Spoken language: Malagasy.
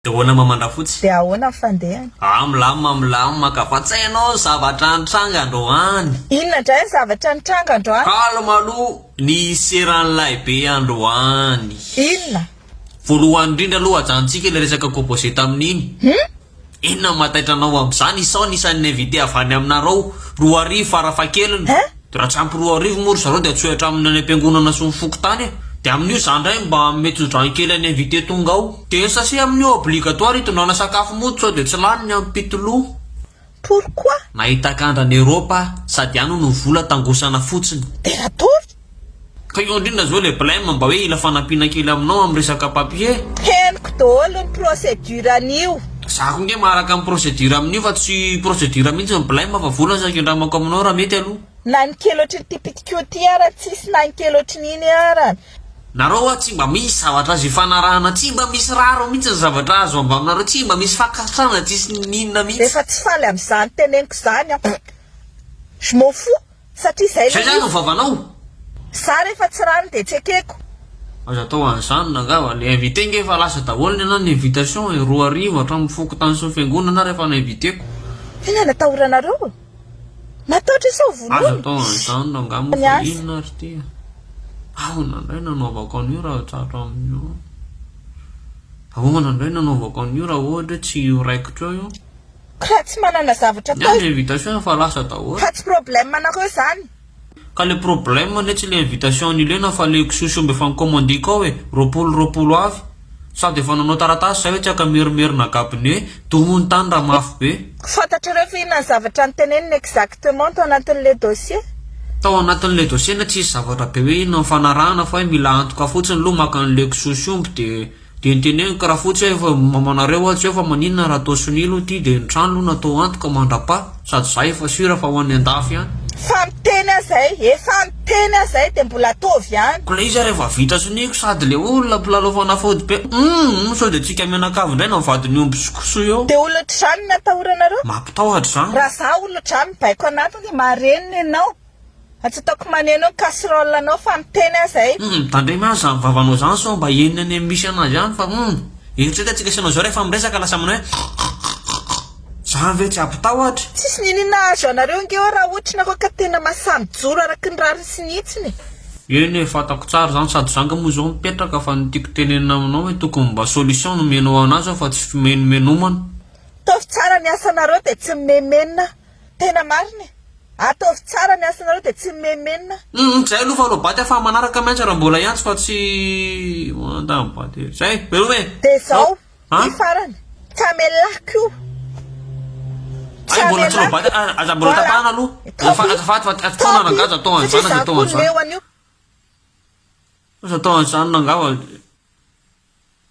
Dona Mamandrafotsy. Dia ahoana ny fandehany? Ah milamina milamina ka fa tsy hainao ny zavatra nitranga androany. Inona indray ny zavatra nitranga androany? Calme aloha ny hiseran'ny lahibe androany. Inona? Voalohany indrindra aloha ajanontsika ilay resaka composé tamin'iny. Hum? Inona no mahataitra anao amin'izany? Isaho ny isan'ny invité avy any aminareo, roa arivo farafahakeliny. Hein? De raha tsy ampy roa arivo moa ry zareo de atsohitra aminy any am-piangonana sy ny fokontany e! De amin'io za ndray mba mety zodran kely any invité tonga ao. De ny sase amin'io obligatoire itondrana sakafo mody sao de tsy lany ny ampitoloo. Pourquoi? Nahita kandra any Europe ah, sady any hono ny vola tangosana fotsiny. De ratory? Ka io ndrindra zao le blem mba hoe ila fanampiana kely aminao am resaka papier. Henoko daholo ny procédure an'io. Za koa nge maharaka ny procédure amin'io fa tsy procédure mihintsy ny blem fa vola zao kendramako aminao raha mety aloha. Na ny kely ohatry ity pitiko ity ara tsisy na ny kely ohatry ny iny ara. Nareo hoa tsy mba misy zavatra azo ifanarahana tsy mba misy rariny mihintsy ny zavatra azo ambaminareo tsy mba misy fankasitrahana tsisy n'inona mihintsy. Efa tsy faly amzany teneniko zany aho je m'en fous. Satria zay le izy. Zay zany ny vavanao? Za refa tsy rano de tsekeko. Aza atao an'izany nangava, le invité nge efa lasa daholo ny anah ny invitation e, roa arivo hatramin'ny fokontany sy ny fiangonana ary efa na-inviter-ko. Tena natahoranareo e! Mataotra sao vonoina! Aza atao an'izany nangamba fa inona ary ity e! Ahona ndray no anaovako an'io raha tratro amin'io an! Ahona ndray no anaovako an'io raha ohatra hoe tsy io raikitra io io? Ka tsy manana zavatra atao. Ny ahy ny invitation efa lasa daholo. Fa tsy problème anareo zany. Ka le problème anie tsy le invitation nilena fa le kisoa sy omby efa nikomandiako ao e, roapolo roapolo avy. Sady efa nanao taratasy zay hoe tsy ankamerimerina gabone, domo ny tany raha mafy be. Fantatrareo ve inona ny zavatra noteneniny exactement tao anatin'le dossier? Tao anatin'le dossier anie tsisy zavatra be hoe inona mifanarahana fa hoe mila antoka fotsiny lo maka an'le kisoa sy omby de. Dia niteneniko karaha fotsy aho efa mamanareo aho tsy eo fa maninona raha atao sonia aloha ity dia ny trano aloha natao antoka mandra-pa sady za efa sur fa ho an'ny andafy ihany. Fa miteny aho zay efa niteny aho zay dia mbola ataovy ihany. Ko le iza rehefa vita sonia ko sady le olona mpilalao fanafody be humm sao dia tsika mianakavy indray na mivady ny omby sy koso eo. Dia olon-dRano ny atahoranareo? Mampitahotra izany. Raha za olon-dRano baiko anatiny marenina ianao. Aza ataoko maneno ny casserole anao fa miteny aza e! Humm mitandrema aza zany vavanao zany sao mba henony any amin'ny misy anazy any fa humm eritrereta tsika sy anao zao rehefa miresaka lasa manao hoe krrkkrkk zany ve tsy ampitahotra. Tsisy niniana hahazo anareo ange aho raha ohatra nareo ka tena masaha mijoro araky ny rariny sy ny hitsiny e! Eny e, fantako tsara izany sady za nga moa zao mipetraka fa ny tiako tenenina aminao hoe tokony mba solution no omenao anazy aho fa tsy fimenomenomana. Ataovy tsara ny asanareo dia tsy mimenomenona. Tena marina e! Ataovy tsara ny asanareo dia tsy mimenmenna. Humm zay aloha fa alao baty afaha manaraka miantsa raha mbola hiantso fa tsy mandany baty ery. Zay, veloma e. Dia izao, ity farany, Camellah koa. Ay mbola tsy alao baty a, aza mbola tapahana aloha. Azafa, azafady fa atao nanagaja atao an'izany aza atao an'izany. Aza atao an'izany nangava.